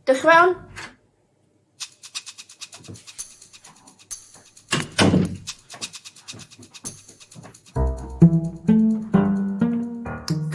Dewch i fewn.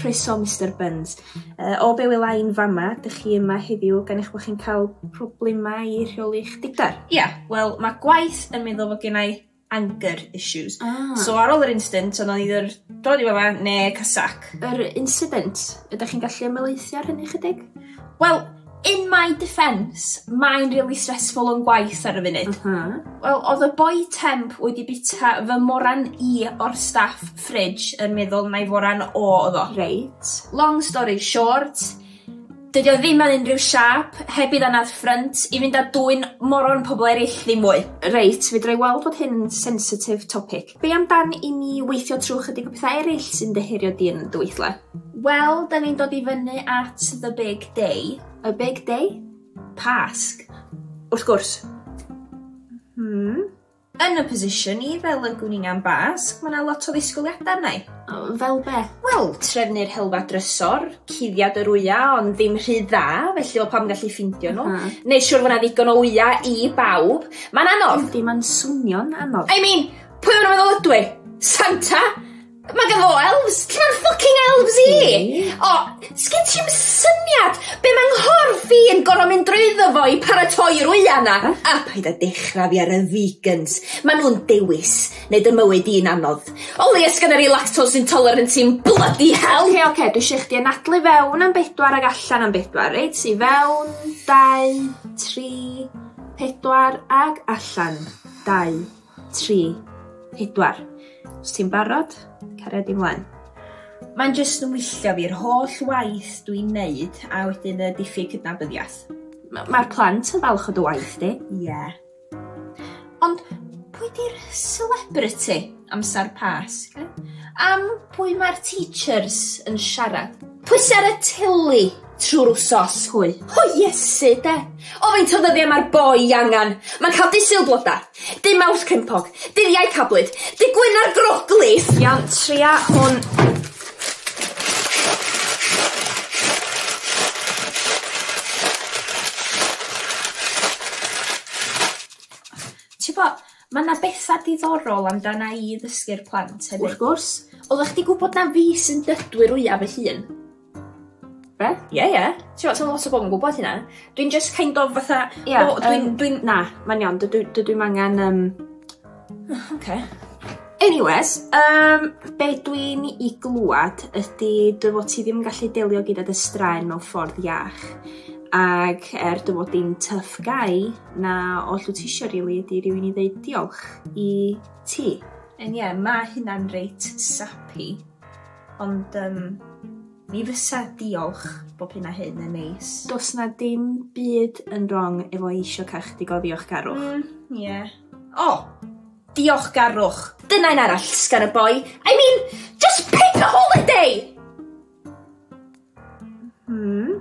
Croeso Mister Burns. Uh, o be wela i'n fama, dych chi yma heddiw gan eich bod chi'n cael problemau i rheoli'ch digdar? Ia, wel, mae gwaith yn meddwl fod gennau anger issues. Ah. So ar ôl yr instant, o'n i either dod i fama ne casac. Yr incident, ydych chi'n gallu ymwneithio ar hynny chydig? Wel, in my defence, mae'n really stressful o'n gwaith ar y funud. Uh -huh. Wel, oedd y boi temp wedi bita fy moran i o'r staff fridge yn meddwl na i foran o oedd o. Reit. Long story short, Dydi o ddim ar unrhyw siâp, heb i ddanadd ffrynt, i fynd â dwyn moron pobl erill ddim mwy. Reit, fedra i weld bod hyn yn sensitif topic. Be am dan i ni weithio trwy chydig o pethau eraill sy'n dy herio di yn dy weithle? Wel, da ni'n dod i fyny at the big day. Y big day? Pasg. Wrth gwrs. Hmm. Yn y position i fel y gwn i'n am Basg, mae yna lot o ddisgwyliadau arna i. Fel be? Wel, trefnu'r helfa drysor, cuddiad yr wya ond ddim rhy dda, felly o pam gallu ffindio nhw. Neu siwr fod yna ddigon o wya i bawb. Mae'n anodd! Yndi, mae'n swnio'n anodd. I mean, pwy o'n nhw'n meddwl ydw i? Santa? Mae gen fo elves! Lle mae'r fucking elves i? O, sgyn ti 'm syniad be' mae nghorff i yn gor'o' mynd drwyddo fo i paratoi'r wya 'na. A paid â dechra fi ar y vegans. Ma' nhw'n dewis neud dy mywyd di'n anodd. O leia sgynna fi lactose intolerant i'm blydi hel! Oce oce dwi isio i chdi anadlu fewn am bedwar ag allan am bedwar reit? I fewn, dau, tri, pedwar ag allan, dau. 3, 4. Os ti'n barod, caria di mlaen. Mae'n jyst yn wylltio fi, yr holl waith dwi'n neud, a wedyn y diffyg cydnabyddiaeth. Mae'r plant yn falch o dy waith di. Ie. Yeah. Ond pwy di'r celebrity amser Pasg? Am pwy mae'r teachers yn siarad? Pwy sy ar y teli? Trwy'r wsos hwy. O Iesu de! O faint o ddyddiau mae'r boi angen! Mae'n cael dy sul bloda, dy maws crimpog, dyddiau cablyd, dy gwyn ar groglis! Iawn, tria hwn. Ti'n bo, mae yna bethau diddorol amdana i ddysgu'r plant hefyd. Wrth gwrs. Oeddech chdi gwybod na fi sy'n dydwy'r wyaf fy hun? Be? Ie ie. Ti me'wl sa lot o bobol yn gwbod hynna. Dwi'n jyst kind of fatha... Ie yym. ...o dwi'n dwi'n na mae'n iawn dydw i dydw i'm angan yym o oce. Anywes yym be' dwi'n 'i glŵad ydi dy fod ti ddim yn gallu delio gyda dy straen mewn ffordd iach ag er dy fod di'n tough guy na oll wt tisio rili ydi rywun i ddeud diolch i ti. Yn ie ma' hynna'n reit sappy. Ond um, mi fysa diolch bob hyn a hyn yn neis. Dos na dim byd yn wrong efo eisiau cael chdi goddiwch garwch. Mm, ie. Yeah. O! Oh, diolch garwch. Dyna un arall sgan y boi. I mean, just pick a holiday! Hmm?